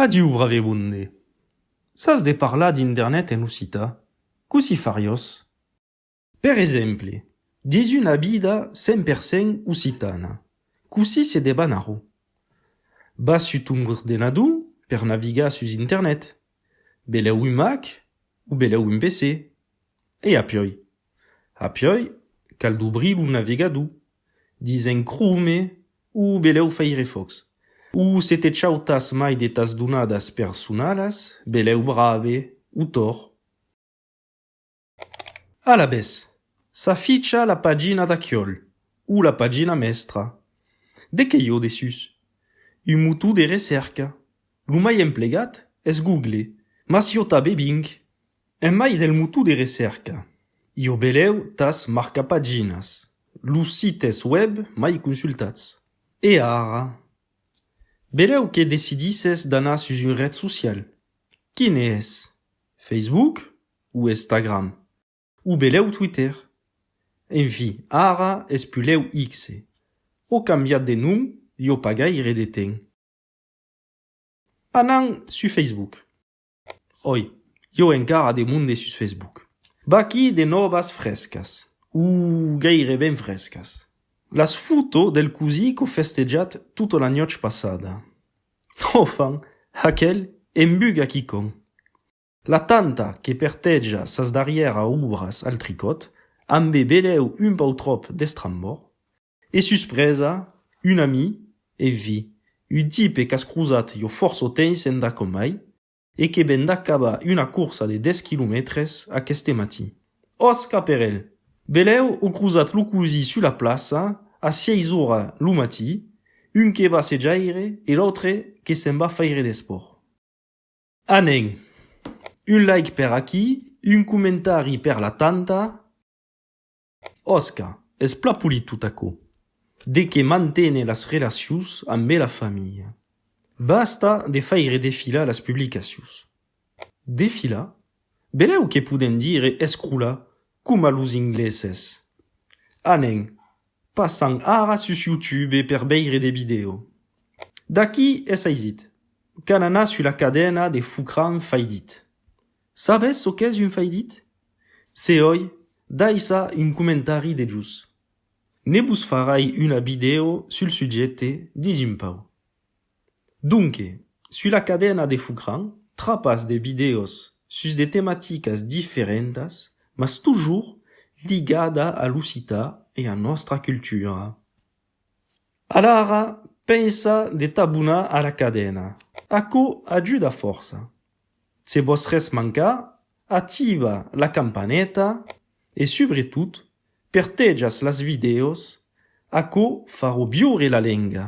Adiu, Bravemonde! Sas de parlar d'indernet en occitan? Cossí fariós? Per exemple, dins una vida 100 per 100 occitana, cossí se deban arro? Vas sus ton ordenador per navigar sus internet, belèu un Mac o belèu un PC, e apioi. Apioi cal dobrir lo navegador, dis en Chrome o belèu Firefox. O se te chautas mai de tas donadas personalas, belèu Brave o Tor. Alavetz, s'aficha la pagina d'aciòl o la pagina mèstra. De qué i ò dessús? Un motor de recèrca. Lo mai emplegat es Google, mas i ò tabé Bing. En mai del motor de recèrca, ieu belèu tas marcapaginas, los sites web mai consultats. E ara? Belèu que decidisses d'anar sus un ret social. Quin es? Facebook o Estagram? O belèu Twitter? Enfi, ara es pulèu X. O cambiat de nom ieu pas gaire de temps. Anam sus Facebook. Oi, ieu encara de monde sus Facebook. Vaquí de nòvas frescas, o gaireben frescas. Las fotos del cosí qu'ò festejat tota la nuòch passada. Ò fan, aquel embuga quicòm. La tanta que perteja sas darrièra obras al tricòt, ambe belèu un pautròp d'estrambòr, E suspresa, un ami, e vi, un tipe qu'as crosat jo fòrç o tens endà com mai, e que ven d'acabar una corsa de dètz quilomètres aqueste matin. Òs, caperèl! Belèu o crosat lo cosí sus la plaça a sièis ora lo matí, un que va sejaire e l'autre que se'n va faire d'espòrt. A nen! Un like per aquí, un comentari per la tanta. Òsca, es pla polit tot aquò. De que mantene las relacions ambe la familha. Basta de faire defilar las publicacions. Defilar? Belèu que podem dire escrolar coma los ingleses. Anem passant ara sus YouTube per veire de vidèo. D'aquí es aisit qu'an anat sus la cadena de Foucran Faidit. Sabes çò qu'es un faidit? Se oi, daissa un comentari dejús. Ne vos farai una vidèo sul subjècte dins un pauc. Donque, sus la cadena de Foucran, trapas de vidèos sus de tematicas diferentas mas toujours ligada a l'occitan e a nòstra cultura. Alara pensa de t'abonar ara cadena, aquò ajuda fòrça. Se vòs res mancar, activa la campaneta e subretot pertejas las vidèos, aquò farò viure la lenga.